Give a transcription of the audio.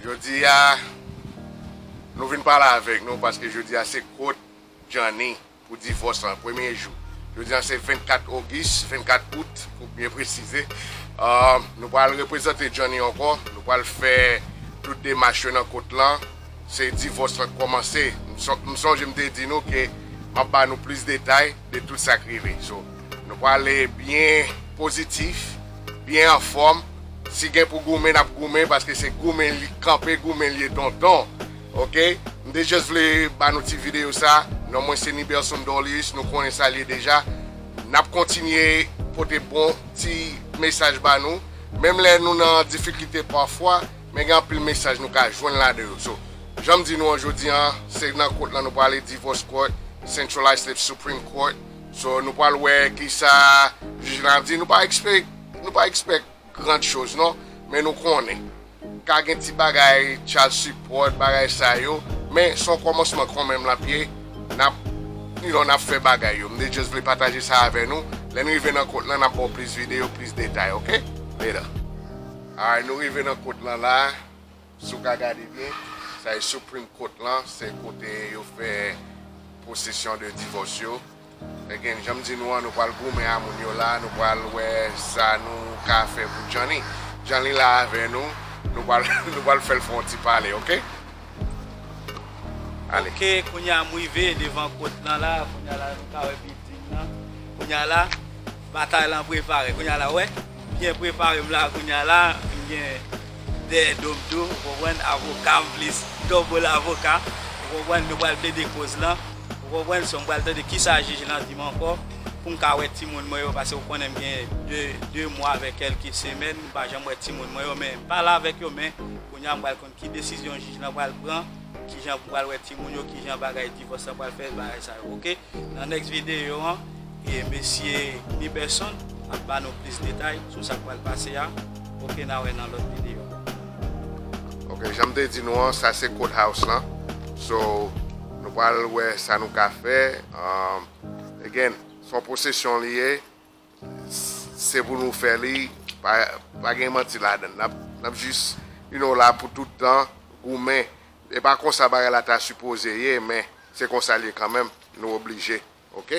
Jodi a Nou vin pale avèk Nou paske jodi a se kot Djanny pou divòs lan premye jou jodi a se 24 ogis 24 out pou byen presize Nou pral reprezante Djanny ankò Nou pral fè tout demach yo nan kot lan se divòs lan k kòmanse M sonje m te di Nou ke map ba Nou plis detay. de tout sak rive so nou prale byen pozitif byen anfòm si gen pou goumen nap goumen paske se goumen li kanpe goumen li ye tonton ok mte just vle banou ti video sa non mwen se Niberson Dorlius nou konnen sal ye deja nap kontinye pote bon ti mesaj banou menm lè nou nan difikilte pafwa. Men gen anpil mesaj nou ka jwenn ladan yo. So, jan m di nou an jodi an, se nan kot lan nou prale Divorce Court, Centralized Slip Supreme Court. So, nou pral wè kisa jij lan ap di. Nou pa ekspe, nou pa expect grand chose non. Men nou konnen. Ka gen ti bagay child support, bagay sa yo. Men son kòmansman konmenm lap ye. Nap, you know, nap fè bagay yo. M te just vle pataje sa avè nou. Lè n rive nan kot lan nap ba w plis video, plis detay ok. Later. Alright nou rive nan kot lan la, si w ka gade byen, sa e Supreme Court lan, se kote yo fè posesyon de divòs yo. Again, jan m di nou an, nou pral goumen a moun yo la, nou pral wè sa nou ka fè pou Djanli. Djanli la avè nou, nou pral nou pral fè l fè yon ti pale ok. Ale. Ok, kounya m rive devan kot lan la, kounya la nou ka wè bilding lan, kounya la. Batay lan prepare kounya la wè byen preparem la kounya la m gen de dom tou ou konprann avokam plis double avoka ou konprann nou pral plede koz lan ou konprann so m pral tande kisa jij lan dim ankò poum ka wè timoun mwen yo pase ou konnen m gen 2 mwa avèk kèlke semèn m pa janm wè timoun mwen yo men m pale avèk yo men kounya m pral ki desizyon jij lan pral pran, kijan pou pral wè timoun yo, kijan bagay divòs lan pral fèt, bagay sa yo ok. Nan next video an e mesye Niberson ap ba nou plis detay sou sak pral pase a ok na wè nan lòt video. Ok janm te di nou an sa se court house lan so nou pral wè sa nou ka fè again son posesyon li ye Se pou nou fè li pa gen manti ladann nap jis you know la pou tout tan goumen e pa konsa bagay la ta sipoze ye men se konsa l ye kanmenm nou oblije ok.